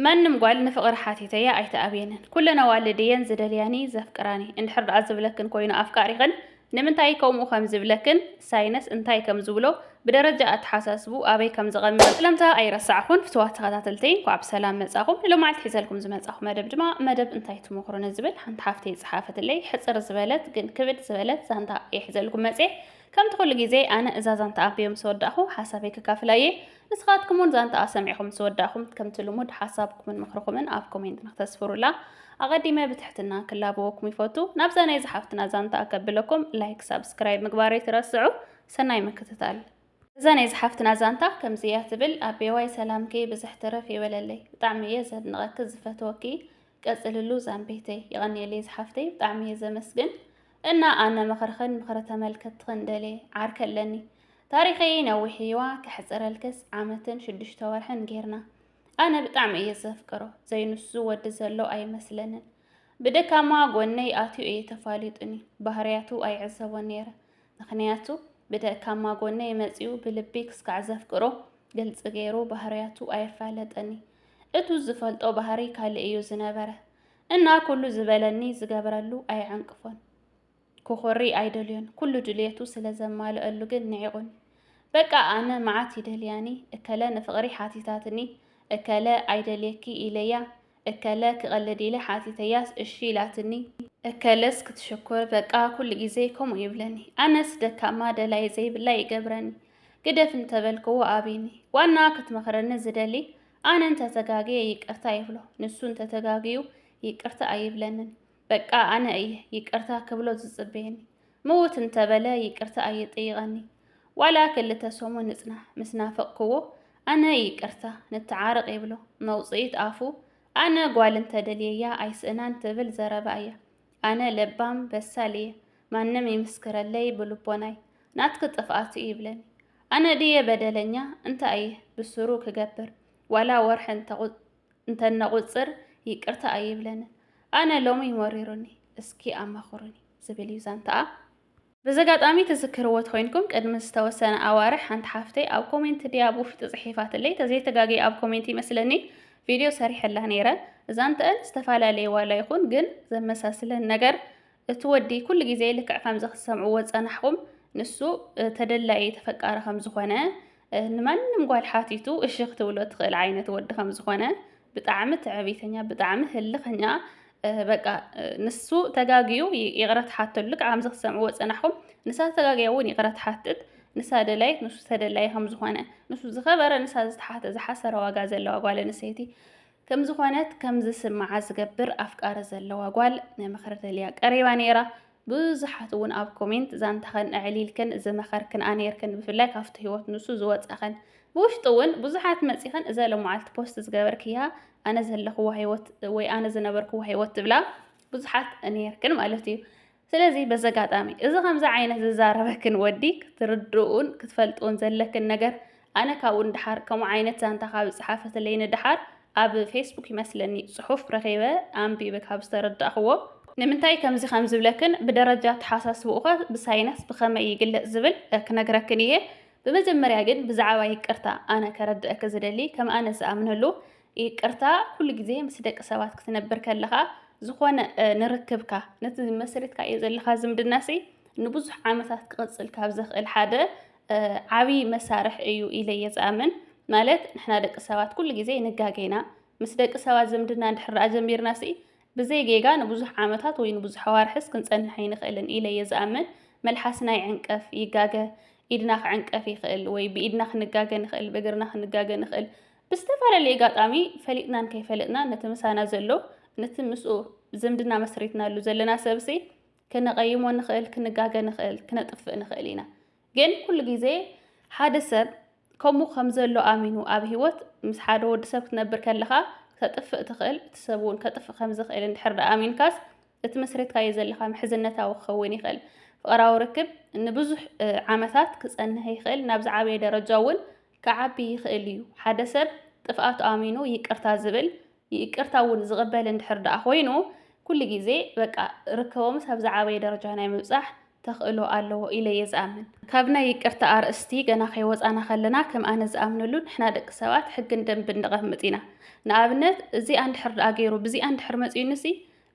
መንም ጓል ንፍቕሪ ሓቲተያ ኣይትኣብየንን። ኩለን ኣዋልድ እየን ዝደልያኒ ዘፍቅራኒ። እንድሕር ደኣ ዝብለክን ኮይኑ ኣፍቃሪኽን ንምንታይ ከምኡ ከም ዝብለክን ሳይነስ እንታይ ከም ዝብሎ ብደረጃ ኣተሓሳስብኡ ኣበይ ከም ዝቐምጥ ስለምታ ኣይረሳዕኹን። ፍትዋት ተኸታተልተይ እንኳዕ ብሰላም መጻኹም። ንሎማዓልቲ ሒዘልኩም ዝመጻኹ መደብ ድማ መደብ እንታይ ትመኽሩ ንዝብል ሓንቲ ሓፍተይ ዝጸሓፈትለይ ሕጽር ዝበለት ግን ክብድ ዝበለት ዛንታ እየ ሒዘልኩም መጽየ። ከምቲ ኩሉ ግዜ ኣነ እዛ ዛንታ ኣንቢበ ምስ ወዳእኹ ሓሳበይ ከካፍላ እየ። ንስኻትኩምውን ዛንታኣ ሰሚዕኹም ምስ ወዳእኹም ከምቲ ልሙድ ሓሳብኩምን ምኽርኹምን ኣብ ኮሜንት ንክተስፍሩላ ኣቐዲመ ብትሕትና ክላበወኩም ይፈቱ። ናብዛ ናይ ዝሓፍትና ዛንታኣ ከብለኩም ላይክ ሳብስክራይብ ምግባር ኣይትረስዑ። ሰናይ ምክትታል። እዛ ናይ ዝሓፍትና ዛንታ ከምዚ እያ ትብል። ኣቤዋይ ሰላምኪ ብዝሕ ትረፍ ይበለለይ ብጣዕሚ እየ ዘድንቐኪ ዝፈትወኪ ቀፅልሉ ዛምቤተይ። የቐንየለይ ዝሓፍተይ ብጣዕሚ እየ ዘመስግን። እና ኣነ ምኽርኽን ምኽሪ ተመልከትኽን ደሌ ዓርከ ኣለኒ ታሪኸይ ነዊሕ እዩዋ ከሕፅረልክስ ዓመትን ሽዱሽተ ወርሕን ጌርና ኣነ ብጣዕሚ እየ ዘፍቅሮ ዘይንሱ ዝወዲ ዘሎ ኣይመስለንን ብደካማ ጎነይ ኣትዩ እየ ተፋሊጡኒ ባህርያቱ ኣይዕዘቦ ነይረ ምክንያቱ ብደካማ ጎነ የመፅኡ ብልቢ ክስካዕ ዘፍቅሮ ግልፂ ገይሩ ባህርያቱ ኣየፋለጠኒ እቱ ዝፈልጦ ባህሪ ካልእ እዩ ዝነበረ እና ኩሉ ዝበለኒ ዝገበረሉ ኣይዕንቅፎን ክኾሪ ኣይደልዮን ኩሉ ድልየቱ ስለ ዘማልአሉ ግን ንዒቑኒ በቃ ኣነ መዓት ይደልያኒ እከለ ንፍቕሪ ሓቲታትኒ እከለ ኣይደልየኪ ኢለያ እከለ ክቐልድ ኢለ ሓቲተያስ እሺ ኢላትኒ እከለስ ክትሽኩር በቃ ኩሉ ግዜ ከምኡ ይብለኒ ኣነስ ደካማ ደላይ ዘይብላ ይገብረኒ ግደፍ እንተበልክዎ ኣብኒ ዋና ክትመኽረኒ ዝደሊ ኣነ እንተ ተጋግየ ይቅርታ ይብሎ፣ ንሱ እንተ ተጋግዩ ይቅርታ ኣይብለንን። በቃ ኣነ እየ ይቅርታ ክብሎ ዝጽበየኒ። ምውት እንተ በለ ይቅርታ ኣይጥይቐኒ። ዋላ ክልተ ሰሙን ንጽናሕ፣ ምስ ናፈቕክዎ ኣነ ይቅርታ ንተዓረቕ ይብሎ። መውጽኢት ኣፉ ኣነ ጓል እንተ ደልየያ ኣይስእናን ትብል ዘረባ እያ። ኣነ ለባም በሳል እየ፣ ማንም ይምስክረለይ ብልቦናይ፣ ናትኪ ጥፍኣት እዩ ይብለኒ። ኣነ ድየ በደለኛ እንታይ ብሱሩ ክገብር ዋላ ወርሒ እንተነቁፅር ይቅርታ ኣይብለንን ኣነ ሎሚ መሪሩኒ እስኪ ኣማኽሩኒ ዝብል እዩ ዛንትኣ። በዘጋጣሚ ትዝክርዎ ተኮይንኩም ቅድሚ ዝተወሰነ ኣዋርሕ ሓንቲ ሓፍተይ ኣብ ኮሜንት ድያ ብውሽጢ ጽሒፋትለይ ተዘይተጋግየ ኣብ ኮሜንት ይመስለኒ ቪድዮ ሰሪሐላ ነይረ ዛንትኣን ዝተፈላለየ ዋላ ይኹን ግን ዘመሳስለን ነገር እቲ ወዲ ኩሉ ግዜ ልክዕ ከምዚ ክትሰምዕዎ ዝጸናሕኹም ንሱ ተደላዪ ተፈቃሪ ከም ዝኾነ ንማንም ጓል ሓቲቱ እሺ ክትብሎ ትኽእል ዓይነት ወዲ ከም ዝኾነ ብጣዕሚ ትዕቢተኛ ብጣዕሚ ህልኸኛ በቃ ንሱ ተጋግዩ ይቕረ ትሓተሉ ልክዕ ከምዚ ክትሰምዕዎ ዝጸናሕኹም ንሳ ተጋግያ እውን ይቕረ ትሓትት ንሳ ደላይት ንሱ ተደላዪ ከም ዝኾነ ንሱ ዝኸበረ ንሳ ዝተሓተ ዝሓሰረ ዋጋ ዘለዋ ጓል ኣንስተይቲ ከም ዝኾነት ከም ዝስምዓ ዝገብር ኣፍቃሪ ዘለዋ ጓል ንምኽሪ ደልያ ቀሪባ ነይራ። ብዙሓት እውን ኣብ ኮሜንት ዛንታኸን ኣዕሊልክን ዝመኸርክንኣ ነይርክን ብፍላይ ካብቲ ህይወት ንሱ ዝወፃኸን ብውሽጢ እውን ብዙሓት መፂኸን እዛ ሎመዓልቲ ፖስት ዝገበርክያ ኣነ ዘለኽዋ ህይወት ወይ ኣነ ዝነበርክዋ ህይወት ትብላ ብዙሓት ነይርክን ማለት እዩ። ስለዚ በዚ ኣጋጣሚ እዚ ከምዚ ዓይነት ዝዛረበክን ወዲ ክትርድኡን ክትፈልጥዎን ዘለክን ነገር ኣነ ካብኡ ንደሓር ከምኡ ዓይነት ዛንታ ካብ ዝጸሓፈትለይ ንደሓር ኣብ ፌስቡክ ይመስለኒ ጽሑፍ ረኺበ ኣንቢበ ካብ ዝተረዳእክዎ ንምንታይ ከምዚ ከም ዝብለክን ብደረጃ ኣተሓሳስብኡኸ ብሳይነስ ብኸመይ ይግለጽ ዝብል ክነግረክን እየ። ብመጀመርያ ግን ብዛዕባ ይቅርታ ኣነ ከረድኣኪ ዝደሊ ከም ኣነ ዝኣምነሉ ይቅርታ ኩሉ ግዜ ምስ ደቂ ሰባት ክትነብር ከለኻ ዝኾነ ንርክብካ ነቲ መስሪትካዮ ዘለኻ ዝምድናሲ ንብዙሕ ዓመታት ክቕጽል ካብ ዘኽእል ሓደ ዓብዪ መሳርሒ እዩ ኢለ እየ ዝኣምን። ማለት ንሕና ደቂ ሰባት ኩሉ ግዜ ንጋገ ኢና። ምስ ደቂ ሰባት ዝምድና እንድሕር ደኣ ጀሚርናሲ ብዘይ ጌጋ ንብዙሕ ዓመታት ወይ ንብዙሕ ኣዋርሕስ ክንጸንሕ ኣይንኽእልን ኢለ እየ ዝኣምን። መልሓስና ይዕንቀፍ፣ ይጋገ፣ ኢድና ክዕንቀፍ ይኽእል ወይ ብኢድና ክንጋገ ንኽእል፣ ብእግርና ክንጋገ ንኽእል፣ ብዝተፈላለየ ኣጋጣሚ ፈሊጥናን ከይፈለጥናን ነቲ ምሳና ዘሎ ነቲ ምስኡ ዝምድና መስሪትናሉ ዘለና ሰብሲ ክነቐይሞ ንኽእል፣ ክንጋገ ንኽእል፣ ክነጥፍእ ንኽእል ኢና። ግን ኩሉ ግዜ ሓደ ሰብ ከምኡ ከም ዘሎ ኣሚኑ ኣብ ህይወት ምስ ሓደ ወዲ ሰብ ክትነብር ከለኻ ክተጥፍእ ትኽእል፣ እቲ ሰብ እውን ከጥፍእ ከም ዝኽእል እንድሕር ደኣ ኣሚንካስ እቲ መስሪትካዮ ዘለኻ ምሕዝነታዊ ክኸውን ይኽእል። ፍቕራዊ ርክብ ንብዙሕ ዓመታት ክጸንህ ይኽእል፣ ናብ ዝዓበየ ደረጃ እውን ክዓቢ ይኽእል እዩ። ሓደ ሰብ ጥፍኣቱ ኣሚኑ ይቅርታ ዝብል ይቅርታ እውን ዝቕበል እንድሕር ደኣ ኮይኑ ኩሉ ግዜ በቃ ርክቦምስ ኣብ ዝዓበየ ደረጃ ናይ ምብጻሕ ተኽእሎ ኣለዎ ኢለ እየ ዝኣምን። ካብ ናይ ይቅርታ ኣርእስቲ ገና ከይወጻና ከለና ከም ኣነ ዝኣምነሉ ንሕና ደቂ ሰባት ሕግን ደንብን ነቐምጥ ኢና። ንኣብነት እዚኣ እንድሕር ደኣ ገይሩ ብዚኣ እንድሕር መጺኡኒሲ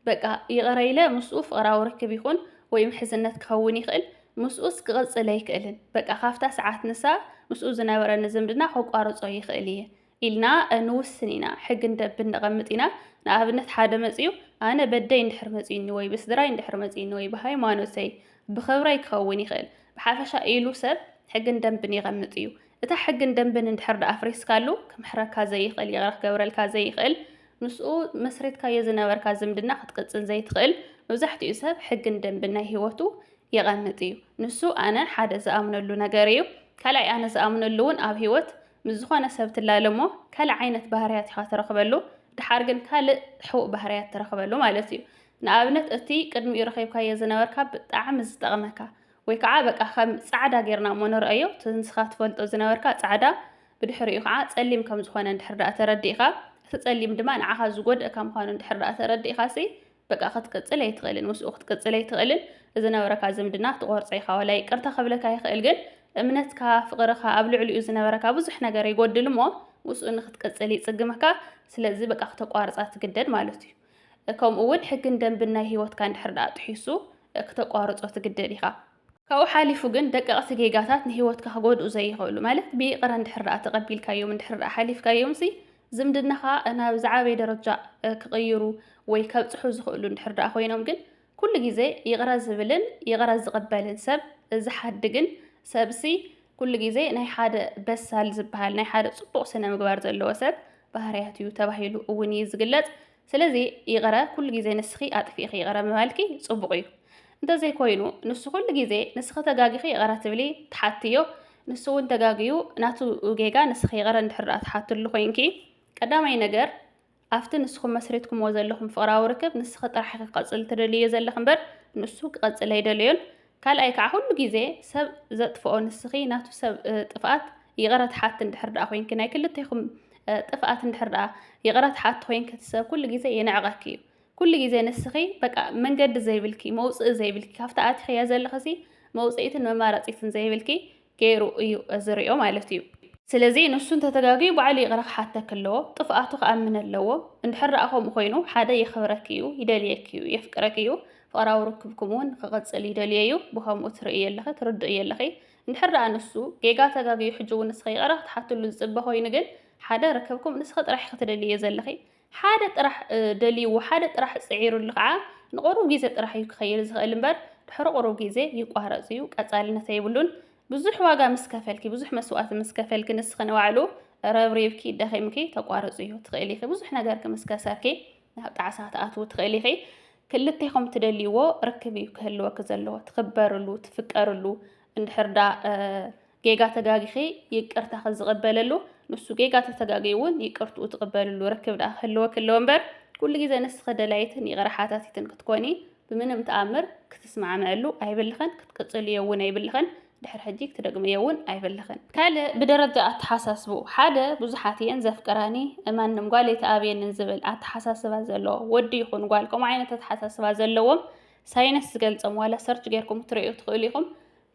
በቃ ይቕረ ኢለ ምስኡ ፍቕራዊ ርክብ ይኹን ወይ ምሕዝነት ክኸውን ይኽእል፣ ምስኡስ ክቕጽል ኣይክእልን፣ በቃ ካብታ ሰዓት ንሳ ምስኡ ዝነበረኒ ዝምድና ከቋርጾ ይኽእል እየ ኢልና ንውስን ኢና፣ ሕጊ ንደብን ነቐምጥ ኢና፣ ንኣብነት ሓደ መጺኡ ኣነ በደይ እንድሕር መጺኡኒ ወይ ብስድራይ እንድሕር መጺኡኒ ወይ ብሃይማኖተይ ብኽብረይ ክኸውን ይኽእል፣ ብሓፈሻ ኢሉ ሰብ ሕግን ደንብን የቐምጥ እዩ፣ እታ ሕግን ደንብን እንድሕር ድኣ ኣፍሪስካሉ ክምሕረካ ዘይኽእል ይቕረ ክገብረልካ ዘይኽእል ምስኡ መስሪትካዮ ዝነበርካ ዝምድና ክትቅጽል ዘይትኽእል መብዛሕቲኡ ሰብ ሕግን ደንብን ናይ ሂወቱ የቐምጥ እዩ ንሱ ኣነ ሓደ ዝኣምነሉ ነገር እዩ ካልኣይ ኣነ ዝኣምነሉ እውን ኣብ ሂወት ምስ ዝኾነ ሰብ ትላለ እሞ ካልእ ዓይነት ባህርያት ኢኻ ትረኽበሉ ድሓር ግን ካልእ ሕቡእ ባህርያት ትረኽበሉ ማለት እዩ ንኣብነት እቲ ቅድሚኡ ረኺብካዮ ዝነበርካ ብጣዕሚ ዝጠቕመካ ወይ ከዓ በቃ ከም ጻዕዳ ጌርና እሞ ንርኣዮ እቲ ንስኻ ትፈልጦ ዝነበርካ ጻዕዳ ብድሕሪኡ ከዓ ጸሊም ከም ዝኾነ እንድሕር ደኣ ተረዲእካ እቲ ጸሊም ድማ ንዓኻ ዝጎድእካ ምዃኑ እንድሕር ደኣ ተረዲእካ ሲ በቃ ክትቅጽል ኣይትኽእልን ምስኡ ክትቅጽል ኣይትኽእልን ዝነበረካ ዝምድና ትቆርጾ ኢኻ ዋላ ይቅርታ ክብለካ ይኽእል ግን እምነትካ ፍቅርኻ ኣብ ልዕሊኡ ዝነበረካ ብዙሕ ነገር ይጎድል እሞ ምስኡ ንክትቅጽል ይጽግመካ ስለዚ በቃ ክተቋርጻ ትግደድ ማለት እዩ ከምኡ እውን ሕግን ደንብን ናይ ህይወትካ እንድሕር ደኣ ጥሒሱ ክተቋርጾ ትግደድ ኢኻ። ካብኡ ሓሊፉ ግን ደቀቕቲ ጌጋታት ንህይወትካ ክጎድኡ ዘይኽእሉ ማለት ብይቕረ እንድሕር ደኣ ተቐቢልካዮም እንድሕር ደኣ ሓሊፍካዮምሲ ዝምድናኻ ናብ ዝዓበየ ደረጃ ክቕይሩ ወይ ከብጽሑ ዝኽእሉ እንድሕር ደኣ ኮይኖም ግን ኩሉ ግዜ ይቕረ ዝብልን ይቕረ ዝቕበልን ሰብ ዝሓድግን ሰብሲ ኩሉ ግዜ ናይ ሓደ በሳል ዝበሃል ናይ ሓደ ጽቡቕ ስነ ምግባር ዘለዎ ሰብ ባህርያት እዩ ተባሂሉ እውን እዩ ዝግለጽ። ስለዚ ይቕረ ኩሉ ግዜ ንስኺ ኣጥፊእኺ ይቕረ ምባልኪ ጽቡቕ እዩ። እንተዘይኮይኑ ንሱ ኩሉ ግዜ ንስኺ ተጋጊኺ ይቕረ ትብሊ ትሓትዮ፣ ንሱ እውን ተጋግዩ ናቱ ጌጋ ንስኺ ይቕረ እንድሕር ደኣ ትሓትሉ ኮይንኪ ቀዳማይ ነገር ኣብቲ ንስኹም መስሪትኩምዎ ዘለኹም ፍቕራዊ ርክብ ንስኺ ጥራሕ ኢኺ ክቐጽል ትደልይዮ ዘለኺ እምበር ንሱ ክቐጽል ኣይደለዮን። ካልኣይ ከኣ ኩሉ ግዜ ሰብ ዘጥፍኦ ንስኺ ናቱ ሰብ ጥፍኣት ይቕረ ትሓቲ እንድሕር ደኣ ኮይንኪ ናይ ክልቴኹም ጥፍኣት እንድሕር ደኣ ይቕረ ትሓቲ ኮይንኪ እቲ ሰብ ኩሉ ግዜ የንዕቐኪ እዩ። ኩሉ ግዜ ንስኺ በቃ መንገዲ ዘይብልኪ መውጽኢ ዘይብልኪ ካብቲ ኣቲኽያ ዘለኺሲ መውጽኢትን መማረጺትን ዘይብልኪ ገይሩ እዩ ዝሪኦ ማለት እዩ። ስለዚ ንሱ እንተተጋግዩ ባዕሉ ይቕረ ክሓተኪ ኣለዎ፣ ጥፍኣቱ ክኣምን ኣለዎ። እንድሕር ደኣ ከምኡ ኮይኑ ሓደ የኽብረኪ እዩ፣ ይደልየኪ እዩ፣ የፍቅረኪ እዩ፣ ፍቕራዊ ርክብኩም እውን ክቕፅል ይደልዮ እዩ፣ ብኸምኡ ትርእይዮ ኣለኺ፣ ትርድእዮ ኣለኺ። እንድሕር ደኣ ንሱ ጌጋ ተጋግዩ ሕጂ እውን ንስኺ ይቕረ ክትሓትሉ ዝፅበ ኮይኑ ግን ሓደ ርክብኩም ንስኺ ጥራሕ ኢኺ ትደልይዮ ዘለኺ፣ ሓደ ጥራሕ ደልይዎ፣ ሓደ ጥራሕ ጽዒሩሉ ከኣ ንቑሩብ ግዜ ጥራሕ እዩ ክኸይድ ዝኽእል እምበር ድሕሪ ቑሩብ ግዜ ይቋረጽ እዩ፣ ቀጻልነት ኣይብሉን። ብዙሕ ዋጋ ምስ ከፈልኪ፣ ብዙሕ መስዋእቲ ምስ ከፈልኪ ንስኺ ንባዕሉ ረብሪብኪ ደኺምኪ ተቋርጽዮ ትኽእሊ ኢኺ። ብዙሕ ነገርኪ ምስ ከሰርኪ ናብ ጣዕሳ ትኣትዊ ትኽእሊ ኢኺ። ክልቴኹም ትደልይዎ ርክብ እዩ ክህልወኪ ዘለዎ፣ ትኽበርሉ፣ ትፍቀርሉ እንድሕር ዳ ጌጋ ተጋጊኺ ይቅርታኺ ዝቅበለሉ ንሱ ጌጋ ተተጋጊዩ እውን ይቅርትኡ ትቅበልሉ ርክብ ደኣ ክህልወኪ ኣለዎ እምበር ኩሉ ግዜ ንስኺ ደላይትን ይቅረ ሓታቲትን ክትኮኒ ብምንም ተኣምር ክትስማዕምዕሉ ኣይብልኽን ክትቅጽልዮ እውን ኣይብልኽን ድሕሪ ሕጂ ክትደግምዮ እውን ኣይብልኽን። ካልእ ብደረጃ ኣተሓሳስብኡ ሓደ ብዙሓት እየን ዘፍቅራኒ ማንም ጓል ኣይትኣብየንን ዝብል ኣተሓሳስባ ዘለዎ ወዲ ይኹን ጓል ከምኡ ዓይነት ኣተሓሳስባ ዘለዎም ሳይንስ ዝገልጾም ዋላ ሰርች ጌርኩም ክትርእዩ ትኽእሉ ኢኹም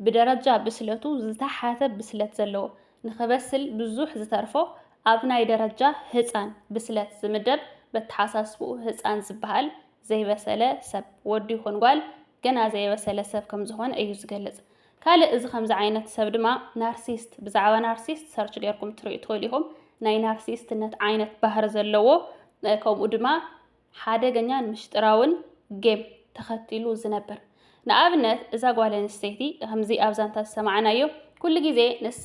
ብደረጃ ብስለቱ ዝተሓተ ብስለት ዘለዎ፣ ንኽበስል ብዙሕ ዝተርፎ ኣብ ናይ ደረጃ ህጻን ብስለት ዝምደብ በተሓሳስብኡ ህጻን ዝበሃል ዘይበሰለ ሰብ፣ ወዲ ይኹን ጓል ገና ዘየበሰለ ሰብ ከምዝኾነ እዩ ዝገልጽ። ካልእ እዚ ከምዚ ዓይነት ሰብ ድማ ናርሲስት ብዛዕባ ናርሲስት ሰርች ጌርኩም ትሪኡ ትኽእሉ ኢኹም ናይ ናርሲስትነት ዓይነት ባህሪ ዘለዎ ከምኡ ድማ ሓደገኛን ምሽጥራውን ጌም ተኸቲሉ ዝነብር። ንኣብነት እዛ ጓል ኣንስተይቲ ከምዚ ኣብ ዛንታ ዝሰማዕናዮ ኩሉ ግዜ ንሳ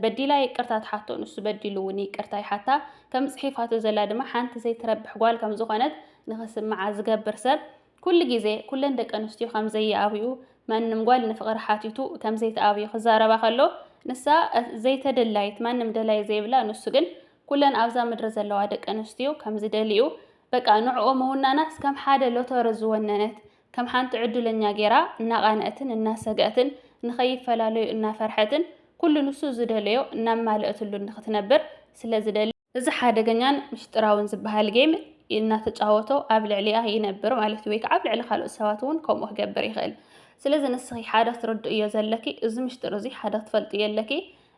በዲላ ይቅርታ ትሓቶ ንሱ በዲሉ እውን ይቅርታ ይሓታ ከም ጽሒፋቶ ዘላ ድማ ሓንቲ ዘይትረብሕ ጓል ከም ዝኾነት ንኽስምዓ ዝገብር ሰብ ኩሉ ግዜ ኩለን ደቂ ኣንስትዮ ከም ዘይኣብዩ ማንም ጓል ንፍቕሪ ሓቲቱ ከም ዘይትኣብዩ ክዛረባ ከሎ ንሳ ዘይተደላይት ማንም ደላይ ዘይብላ ንሱ ግን ኩለን ኣብዛ ምድሪ ዘለዋ ደቂ ኣንስትዮ ከም ዝደልይኡ በቃ ንዕኦ ምውናናስ ከም ሓደ ሎቶሪ ዝወነነት ከም ሓንቲ ዕዱለኛ ጌራ እናቓነኣትን እናሰገኣትን ንኸይፈላለዩ እናፈርሐትን ኩሉ ንሱ ዝደለዮ እናማለኣትሉ ንኽትነብር ስለ ዝደሊ እዚ ሓደገኛን ምስጢራውን ዝበሃል ጌም እናተጫወቶ ኣብ ልዕሊኣ ይነብር ማለት እዩ ወይ ከዓ ኣብ ልዕሊ ካልኦት ሰባት እውን ከምኡ ክገብር ይኽእል ስለዚ ንስኺ ሓደ ክትርድእዮ ዘለኪ እዚ ምስጢር እዚ ሓደ ክትፈልጥዮ ኣለኪ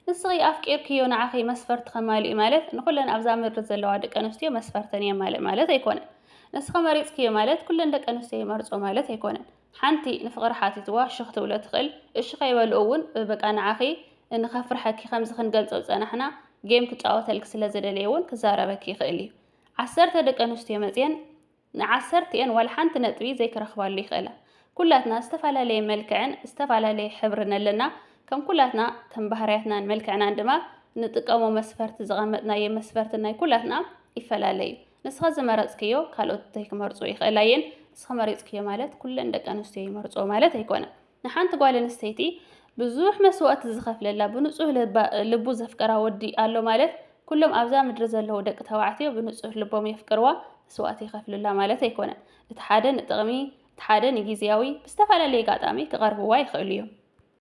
ንስኺ ኣፍቂርክዮ ንዓኺ መስፈርቲ ከማልእ'ዩ ማለት ንኹለን ኣብዛ ምድሪ ዘለዋ ደቂ ኣንስትዮ መስፈርተን የማልእ ማለት ኣይኮነን። ንስኺ መሪጽክዮ ማለት ኩለን ደቂ ኣንስትዮ ይመርጽኦ ማለት ኣይኮነን። ሓንቲ ንፍቕሪ ሓቲትዋ ሽኽ ትብሎ ትኽእል፣ እሺ ከይበልኦ እውን በቃ ንዓኺ እን ከፍርሐኪ ከምዚ ክንገልጾ ዝጸናሕና ጌም ክጻወተልኪ ስለ ዝደለየ እውን ክዛረበኪ ይኽእል'ዩ። ዓሰርተ ደቂ ኣንስትዮ መጺኤን ንዓሰርቲኤን ዋላ ሓንቲ ነጥቢ ዘይክረኽባሉ ይኽእላ። ኩላትና ዝተፈላለየ መልክዕን ዝተፈላለየ ሕብርን ኣለና፣ ከም ኩላትና ከም ባህርያትናን መልክዕናን ድማ ንጥቀሞ መስፈርቲ ዝቐመጥናዮ መስፈርቲ ናይ ኩላትና ይፈላለ እዩ። ንስኻ ዝመረጽክዮ ካልኦት ዘይክመርጽዎ ይኽእላ እየን፣ ንስኺ መሪጽክዮ ማለት ኩለን ደቂ ኣንስትዮ ይመርጽዎ ማለት ኣይኮነን። ንሓንቲ ጓል ኣንስተይቲ ብዙሕ መስዋእቲ ዝኸፍለላ ብንጹህ ልባ ልቡ ዘፍቀራ ወዲ ኣሎ ማለት ኩሎም ኣብዛ ምድሪ ዘለዉ ደቂ ተባዕትዮ ብንጹህ ልቦም የፍቅርዋ መስዋእቲ ይኸፍሉላ ማለት ኣይኮነን። እቲ ሓደ ንጥቕሚ እቲ ሓደ ንጊዝያዊ ብዝተፈላለየ ኣጋጣሚ ክቐርብዋ ይኽእሉ እዮም።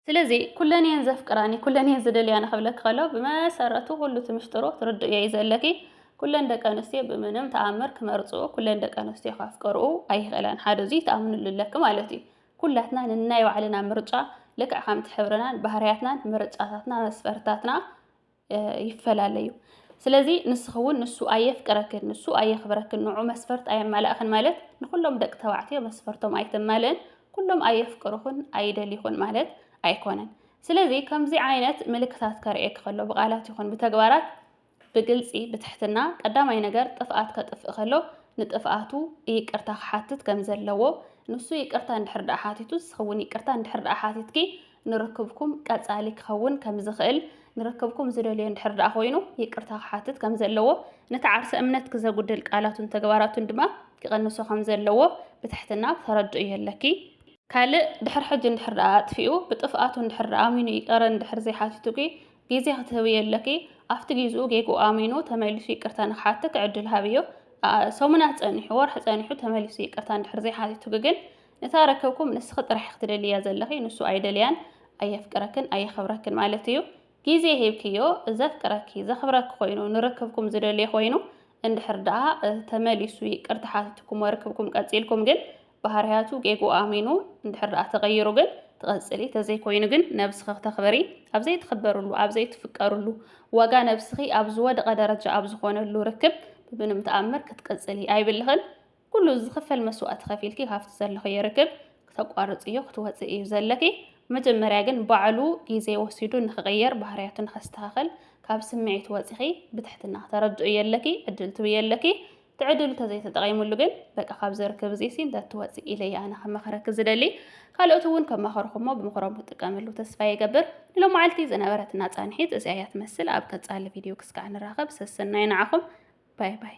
ስለዚ ኩለን እየን ዘፍቅራኒ ኩለን እየን ዝደልያኒ ክብለኪ ከሎ ብመሰረቱ ኩሉ እቲ ምሽጥሩ ትርድእዮ እዩ ዘለኪ። ኩለን ደቂ ኣንስትዮ ብምንም ተኣምር ክመርጽኡ ኩለን ደቂ ኣንስትዮ ከፍቅርኡ ኣይኽእላን ሓደ እዙይ ትኣምንሉ ኣለኪ ማለት እዩ። ኩላትና ንናይ ባዕልና ምርጫ ልክዕ ከምቲ ሕብርናን ባህርያትናን ምርጫታትና መስፈርታትና ይፈላለዩ ስለዚ ንስኺ እውን ንሱ ኣየፍቅረክን ንሱ ኣየኽብረክን ንዑ መስፈርት ኣየማላእኽን ማለት ንኩሎም ደቂ ተባዕትዮ መስፈርቶም ኣይተማልእን ኩሎም ኣየፍቅሩኽን ኣይደልዩኽን ማለት ኣይኮነን ስለዚ ከምዚ ዓይነት ምልክታት ከርእየኪ ከሎ ብቃላት ይኹን ብተግባራት ብግልጺ ብትሕትና ቀዳማይ ነገር ጥፍኣት ከጥፍእ ከሎ ንጥፍኣቱ ይቅርታ ክሓትት ከም ዘለዎ ንሱ ይቅርታ እንድሕር ደኣ ሓቲቱ ንስኺውን ይቅርታ እንድሕር ደኣ ሓቲትኪ ንርክብኩም ቀጻሊ ክኸውን ከም ዝኽእል ንርክብኩም ዝደልዮ እንድሕር ደኣ ኮይኑ ይቅርታ ክሓትት ከም ዘለዎ ነቲ ዓርሰ እምነት ክዘጉድል ቃላቱን ተግባራቱን ድማ ክቕንሶ ከም ዘለዎ ብትሕትና ተረድእዮ ኣለኪ። ካልእ ድሕር ሕጂ እንድሕር ደኣ ኣጥፊኡ ብጥፍኣቱ እንድሕር ደኣ ኣሚኑ ይቅረ እንድሕር ዘይሓቲቱኪ ግዜ ክትህብዮ ኣለኪ ኣብቲ ጊዝኡ ጌግኡ ኣሚኑ ተመሊሱ ይቅርታ ንክሓትክ ዕድል ሃብዮ ሰሙናት ጸኒሑ ወርሒ ጸኒሑ ተመሊሱ ይቅርታ እንድሕር ዘይሓቲቱኪ ግን ንታ ርክብኩም ንስኪ ጥራሕ ኢኪ ትደልይያ ዘለኪ ንሱ ኣይደልያን ኣየፍቅረክን ኣየክብረክን ማለት እዩ ጊዜ ሂብክዮ ዘፍቅረኪ ዘክብረኪ ኮይኑ ንርክብኩም ዝደልዮ ኮይኑ እንድሕር ደኣ ተመሊሱ ይቅርታ ሓቲቱክሞ ርክብኩም ቀጺልኩም ግን ባህርያቱ ጌግኡ ኣሚኑ እንድሕር ደኣ ተቐይሩ ግን ትቐጽሊ ተዘይኮይኑ ግን ነብስኺ ክተኽብሪ ኣብ ዘይትኽበርሉ ኣብ ዘይትፍቀርሉ ዋጋ ነብስኺ ኣብ ዝወደቐ ደረጃ ኣብ ዝኾነሉ ርክብ ብብንም ተኣምር ክትቅጽሊ ኣይብልኽን ኩሉ ዝኽፈል መስዋእቲ ከፊልኪ ካብቲ ዘለኽዮ ርክብ ክተቋርጽዮ ክትወጽእ እዩ ዘለኪ መጀመርያ ግን ባዕሉ ግዜ ወሲዱ ንኽቕየር ባህርያቱ ንኸስተኻኸል ካብ ስምዒት ወጺኺ ብትሕትና ክተረድእዮ ኣለኪ ዕድል ትብዮ ኣለኪ ትዕድሉ ተዘይተጠቂምሉ ግን በቃ ካብዚ ርክብ እዚሲ እንተትወፅእ ኢለ እየ ኣነ ከመኸረኪ ዝደሊ ካልኦት እውን ከማኸርኹሞ ብምኽሮም ክጥቀምሉ ተስፋ ይገብር ንሎማዓልቲ ዝነበረትና ፃንሒት እዚኣ እያ ትመስል ኣብ ቀፃሊ ቪድዮ ክስካዕ ንራኸብ ሰሰናይ ንዓኹም ባይ ባይ